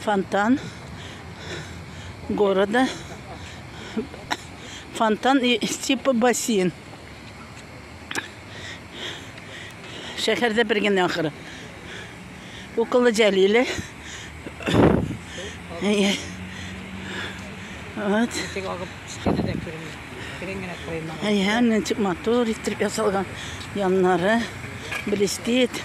Фонтан города. Фонтан и типа бассейн. Шәһәрдә бер генә ахыры. Укылы Җәлиле. Вот. Тик агып китте дә күренми. Кирен генә куймаган. Әйһә, ничек матур итеп ясалган яннары, блестит.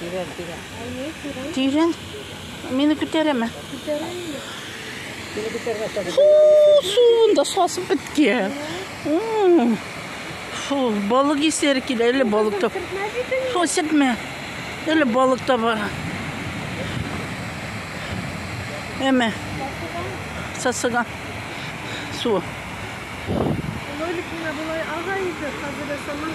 Тирән, тирән. Тирән. Мине күтәрәме? Күтәрәме? Мине күтәрмәсә. Суын да сасып беткән. Фу, балык исләре килә, әле балык та. Фу, сепмә. Әле балык та бар. Әмә. Сасыган. Суы. Лолик менә болай ага иде, хәзер саман